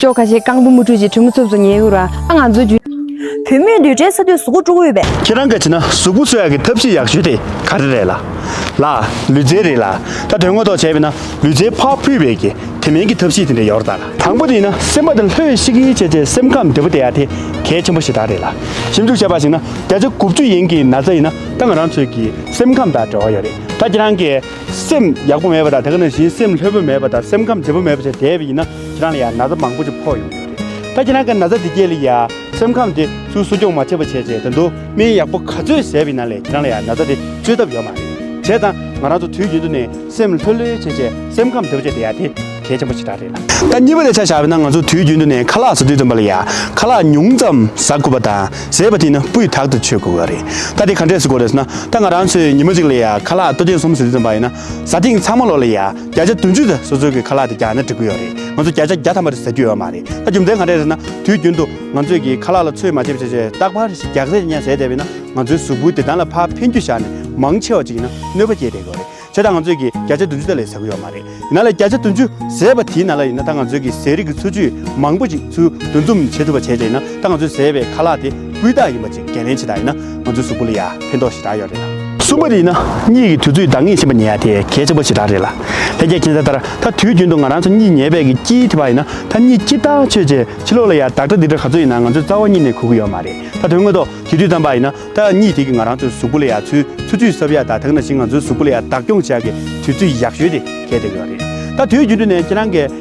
ཅོག་ཁ་ཤས་རྐང་བུ་མུ་ཁྲུས་ཀྱིས་གྲི་མོ་ཚུབས་སུ་ཉལ་ཡོད་ཨ་ང་ཚོའི་རྒྱུད། བུད་མེད་དུད་སྦྲེལ་ས་དུས་གཟུགས་པོ་དཀྲུག་འོས་པའི། ཁྱེད་རང་ག་བྱེད་ན་གཟུགས་པོ་གསོད་ཡག་གི་ཐབས་ཤེས་ཡག་ཤོས་དེ་ག་རེ་རེད་ལ། ལ། ལུས་རྩལ་རེད་ལ། ད་དོན་ངོ་ཐོག་བྱས་པས་ན་ལུས་རྩལ་ཕ་ཕུད་བས་ཀྱི་དེ་མིན་གྱི་ཐབས་ཤེས་དེ་འདྲ་ཡོར་དང། དང་པོ་དེ་ཡིན་ན་སེམས་པ་དེ་ལྷོད་ཤིག་ཤིག་བྱས་བྱས་སེམས་ཁམས་བདེ་པོ་བསྡད་ཡ་དེ་གལ་ཆེན་པོ་ཞིག་དག་རེད་ལ། ཞིབ་འཇུག་བྱས་པ་ཞིག་ན་བརྒྱ་ཆ་དགུ་བཅུ་ཡན་གྱི་ན་ཚ་ཡིན་ན་ད་ང་རང་ཚོས་ཀྱི་སེམས་ཁམས་དང་འབྲེལ་བ་ཡོད་རེད་ད་ཁྱེད་རང་གི་སེམས་ཡག་པོ་མེད་པ་དང་དེ་ག་ནང་བཞིན་སེམས་ལྷོད་པོ་མེད་པ་དང་སེམས་ཁམས་བདེ་པོ་མེད་པ་ཞིག་བསྡད་པས་ཡིན་ན། ཁྱེད་རང་ལ་ཡང་ན་ཚ་མང་པོ་ཅིག་ཕོག་ཡོང་གི་རེད། ད་ཁྱེད་རང་གི་ན་ཚ་འདི་རྒྱས་ལ་ཡང་སེམས་ཁམས་དེ་ཚོའི་གསོ་སྐྱོང་མ་བྱས་པ་བྱས་རྗེས་ད་དུང་སྨན་ཡག་པོ་ག་ཚོད་བཟས་པའི་ནང་ལས་ཁྱེད་རང་ལ་ཡང་ན་ཚ་དེ་བཅོས་ཐབས་ཡོད་མ་རེད། བྱས་ཙང་ང་རང་ཚོ་དུས་རྒྱུན་དུ་ནས་སེམས་ལྷོད་ལྷོད་བྱས་རྗེས་སེམས་ཁམས་བདེ་པོ་བྱས་ཏེ་ཡ་དེ་གལ་ཆེན་པོ་ཞིག་ད་རེད་ལ། ད་གཉིས་པ་ལས་ཆ་བཞག་པས་ན་ང་ཚོ་དུས་རྒྱུན་དུ་ནས་ཁ་ལག་བཟོ་དུས་ཙམ་པ་ལ་ཡང་ཁ་ལག་ཉུང་ཙམ་བཟའ་དགོས་པ་དང་བཟས་པ་དེ་ནི་སྤུས་དག་ཏུ་ཆོད་དགོས་གི་རེད། ད་དེ་ག་འདྲས་བཟོ་དགོས་རེད་ཟེར་ན་ད་ང་རང་ཚོས་ཉི་མ་གཅིག་ལ་ཡང་ཁ་ལག་ལྟོ་ཆས་གསུམ་བཟོ་དུས་ཙམ་པ་ཡིན་ན་ཟ་ཐེངས་ཚང་མ་ལོག་ལ་ཡང་བརྒྱ་ཆ་བདུན་ཅུ་དེ་སོ་སོའི་གི་ཁ་ལག་དེ་རྒྱག་ན་འགྲིག་གི་ཡོད་རེད་ང་ཚོ་བརྒྱ་ཆ་བརྒྱ་ཐམ་པ་རེ་ཟ་རྒྱུ་ཡོད་མ་རེད་ད་རྒྱུ་མཚན་གང་རེད་ཟེར་ན་དུས་རྒྱུན་དུ་ང་ཚོས་གི་ཁ་ལག་ལ་ཚོད་མ་བྱེད་བྱེད་བྱེད་རྟག་པར་ཞིག་རྒྱག་ཟེར་གྱི་ཉན་ཟེར་བསྡད་པས་ན་ང་ཚོའི་གཟུགས་པོའི་བདེ་ཐང་ལ་ཕར་ཕན་རྒྱུ་བཞག་ནས་མང་ཆེ་བ་ཅིག་གི་ན་གནོད་པ་སྐྱེལ་བསྡད་ཡོད་རེད་བྱས་ད་ང་ཚོས་གི་བརྒྱ་ཆ་བདུན་ཅུ་དེ་ལས་ཟ་གི་ཡོད་མ་རེད་ཡིན་ན་ལ་བརྒྱ་ཆ་བདུན་ཅུ་ཟས་པ་དེའི་ནང་ལ་ཡིན་ན་ད་ང་ཚོའི་གི་ཟས་རིགས་ཀི་འཚོ་བཅུད་མང་པོ་ཅིག་ཚུལ་འདོན་རྩོམ་བྱེད་ཐུབ་པ་བྱས་བྱས་ན་ད་ང་ཚོའི་ཟས་པའི་ཁ་ལག་དེ། སྤུས་དག་ཡིན་པ་བཅས་འགན་ལེན་བྱེད་ཐབས་ཡིན་ན་ང་ཚོའི་གཟུགས་པོ་ལ་ཡང་ཕན་ཐོགས་ཞེ་དྲག་ཡོད་རེད་ལ། གསུམ་པ་རེད་ན་གཉིད་ཀྱི་དུས་ཚོད་འདང་ངེས་ཕྱིན་པ་ཉལ་ཡ་དེ་གལ་ཆེན་པོ་ཞེ་དྲག་རེད་ལ། ལྷན་རྒྱས་མཁྱེན་གསལ་ལྟར་ད་དུས་རྒྱུན་དུ་ང་རང་ཚོ་གཉིད་ཉལ་བས་ཀྱི་དཀྱིལ་དེ་བ་ཡིན་ན་ད་གཉིད་དཀྱིལ་ལྟག་ཆོད་རྗེས་ཕྱི་ལོགས་ལ་ཡང་བདག་སྒྲ་འདི་འདྲ་ག་ཚོད་ཡིན་ན་ང་ཚོའི་རྩ་བ་གཉིད་ནས་གོ་གི་ཡོད་མ་རེད་ད་དོན་དངོས་ཐོག་དེ་དུས་ཙམ་པ་ཡིན་ན་ད་གཉིད་དེ་གིས་ང་རང་ཚོའི་གཟུགས་པོ་ལ་ཡང་ཚུལ་ཚུལ་ཚུལ་གསབ་ཡ་ད་དེང་ན་བཞིན་ང་ཚོའི་གཟུགས་པོ་ལ་ཡང་བདག་སྐྱོང་བྱ་གི་དུས་ཚོད་ཡག་ཤོས་དེ་གལ་ཏེ་ཡོད་རེད་ད་དུས་རྒྱུན་དུ་ནས་ཁྱེད་རང་གིས།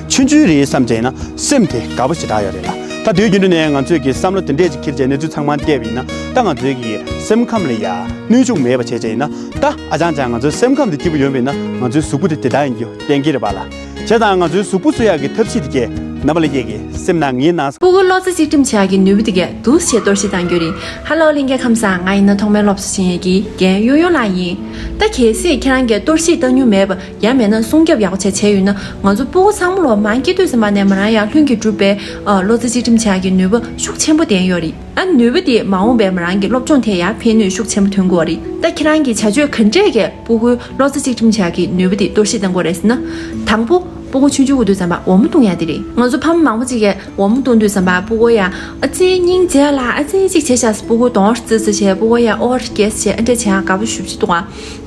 ཆུན་ཆུན་རེད་བསམ་བྱས་ན་སེམས་དེ་དགའ་པོ་ཞེ་དྲག་ཡོད་རེད་ལ་ད་དུས་རྒྱུན་དུ་ནས་ང་ཚོས་ཀྱི་བསམ་བློ་དེ་འདྲས་ཅིག་འཁྱེར་བྱས་གནས་ཚུལ་ཚང་མ་བལྟས་པ་ཡིན་ན་ད་ང་ཚོའི་ཀྱི་སེམས་ཁམས་ལ་ཡ་གནོད་ཅུང་མེད་པ་བྱས་བྱས་ཡིན་ན་ད་ཨ་ཅང་ཅང་ང་ཚོའི་སེམས་ཁམས་དེ་སྐྱིད་པོ་ཡོད་མེད་ན་ང་ཚོའི་གཟུགས་པོ་དེ་དེ་ལྟར་ཡིན་རྒྱུ་གཏན་འཁེལ་རེད་པ་ལ་བྱས་ཙང་ང་ཚོའི་གཟུགས་པོ་བཟོ་ཡག་གི་ཐབས་ཤེས་དེ་གས་ན་བ་ལས་ཀྱི་ཀྱི་སེམས་ནང་ངའི་ནང་སྤོ་བོ་བློ་རྩེ་གཅིག་སྒྲིམ་བྱ་ཡག་གི་ནུས་པ་དེ་གས་འདུག་ཞེས་གཏོར་བཤིག་བཏང་རྒྱུ་རེད་ཧ་ལོ་གླིང་གའི་ཁམས་སང་ང་ཡིན་ན་ཐོག་མའི་སློབ་གསོ་བྱིན་ཡས་ཀྱི་རྒན་གཡུང་གཡུང་ལགས་ཡིན་ད་གལ་སྲིད་ཁྱེད་རང་གས་གཏོར་བཤིག་བཏང་མྱུང་མེད་པ་ཡང་མེད་ན་སྲུང་སྐྱོབ་ཡག་པོ་བྱས་བྱས་ཡོད་ན་ང་ཚོ་སྤུ་གོ་ཚང་མ་ལོ་མང་སྐྱིད་སྡོད་ཟིན་པ་ནས་མོ་རང་ཡང་ལྷུན་གྱིས་གྲུབ་པའི་བློ་རྩེ་གཅིག་སྒྲིམ་བྱ་རྒྱུའི་ནུས་པ་ཤུགས་ཆེན་པོ་ལྡན་ཡོད་རེད་ད་ནུས་པ་དེས་མ་འོངས་པའི་མོ་རང་གི་སློབ་སྦྱོང་དེ་ཡང་ཕན་ནུས་ཤུགས་ཆེན་པོ་ཐོན་དགོས་བ་རེད་ད་ཁྱེད་རང་གིས་བྱ་སྤྱོད་ག་འདྲས་ཀྱིས་སྤུ་གོའི་བློ་རྩེ་གཅིག་སྒྲིམ་བྱ་རྒྱུའི་ནུས་པ་དེ་གཏོར་བཤིག་གཏང་དགོས་རེད་ཟེར་ན། དང་པོ་སྤུ་གོ་ཆུང་ཆུང་གི་དུས་བསམ་པ་འོ་མ་བཏུང་ཡ་དེ་རེད་ང་ཚོ་ཕ་མ་མང་པོ་གཅིག་གིས་འོ་མ་བཏུང་དུས་བསམ་པ་སྤུ་གོ་ཡང་ཨ་ཙི་སྙིང་རྗེ་ལ་ཨ་ཙི་གཅིག་བྱས་བཞག་སྤུ་གོ་དོང་རྩི་རྩི་བྱས་སྤུ་གོ་ཡང་ཨོ་ར་རྒྱས་རྩི་བྱས་ཨ་འདྲས་བྱས་ཡང་དགའ་པོ་ཞུ་བྱེད་དུ་ང་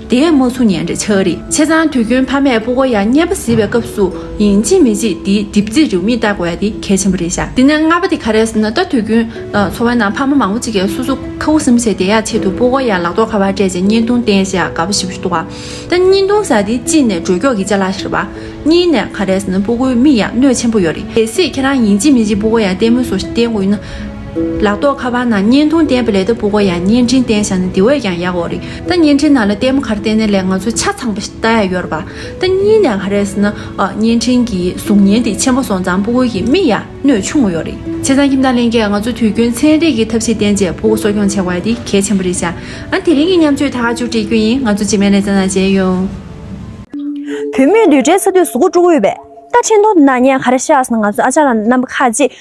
དེ་མོ་ཚུ་ཉན་རེ་ཆགས་རེ་ཆེ་ཚང་དུས་རྒྱུན་ཕ་མས་སྤུ་གོ་ཡ་བསྙལ་པ་བཟི་བའི་སྐབས་སུ་ཡིན་ཅི་མི་ཅི་དེའི་གྲིབ་རྩིས་རེའུ་མིག་བལྟ་དགོས་ཡ་དེ་གལ་ཆེན་པོ་རེད་ཤག་དེ་ནས་ལྔ་པ་དེ་ག་རེད་ཟེར་ན་ལྟ་དུས་རྒྱུན་འཚོ་བའི་ནང་ཕ་མ་མང་པོ་ཅིག་གིས་སོ་སོ་ཁ་འུ་སེམས་ཟེར་དེ་ཡ་ཆེད་དུ་སྤུ་གོ་ཡ་ལག་ཐོག་ཁ་བ་སྤྲད་ཅིང་བསྙལ་ཐུང་བསྟན་ཞེས་ག་བ་ཞིབ་ཞུ་ཐུག་ག་ད་བསྙལ་ཐུང་ཟེར་དེ་གཅིག་ནས་འགྲོས་མགྱོགས་ཀྱི་ལྕེ་ལག་ཤེར་བ། གཉིས་ནས་ག་རེད་ཟེར་ན་སྤུ་གོའི་མིག་ཡ་གནོད་ཆེན་པོ་ཡོད་རེད་སྲིད་ཁྱེད་རང་ཡིན་ཅི་མི་ཅི་སྤུ་གོ་ཡ་བསྟན་མོད་སོ་བསྟན་དགོས་ཡིན་ན། ལག་ཐོག་ཁ་པར་ནང་བརྙན་ཐུང་བསྟན་པ་ལས་ལྟ་བུ་གོ་ཡང་བརྙན་འཕྲིན་བསྟན་བཞག་ན་དེ་བས་ཀྱང་ཡག་འོ་རེད་ད་བརྙན་འཕྲིན་ནང་ལ་ལྟད་མོ་ག་རེ་བསྟན་ནའི་ལས་ང་ཚོ་ཆ་ཚང་པ་ཞིག་ལྟ་ཡ་ཡོད་རེད་པ་ད་གཉིས་ནས་ག་རེ་ཟེར་ན་བརྙན་འཕྲིན་གྱི་གཟུགས་བརྙན་དེ་ཆེན་པོ་སོང་ཙང་སྤུ་གུ་གི་མིག་ཡ་གནོད་ཆུང་ངུ་ཡོད་རེད་བྱས་ཙང་ཁྱིམ་བདག་གླེང་སྐད་ང་ཚོ་དུས་རྒྱུན་ཚན་རིག་གི་ཐབས་ཤེས་བསྟན་རྗེས་སྤུ་གུ་གསོ་སྐྱོང་བྱེད་དགོས་ཡ་དེ་གལ་ཆེན་པོ་རེད་བྱས་ཨང་དེ་རིང་གི་མཉམ་སྤྱོད་ཐག་གཅོད་བྲིས་རྒྱུ་ཡིན་ང་ཚོ་རྗེས་མའི་ལས་ཙང་ནང་བྱས་ཡོད། བུད་མེད་བསྡུས་གྲྭའི་ས་དུས་སུ་སྒོ་དཀྲུག་འོས་པས། ད་ཕྲན་ཏུ་ནག་ཉེས་ག་རེ་བཤགས་ཟིན་ང་ཚོའི་ཨ་ཅག་ལ་རྣམ་པ་ཁ་ཅིག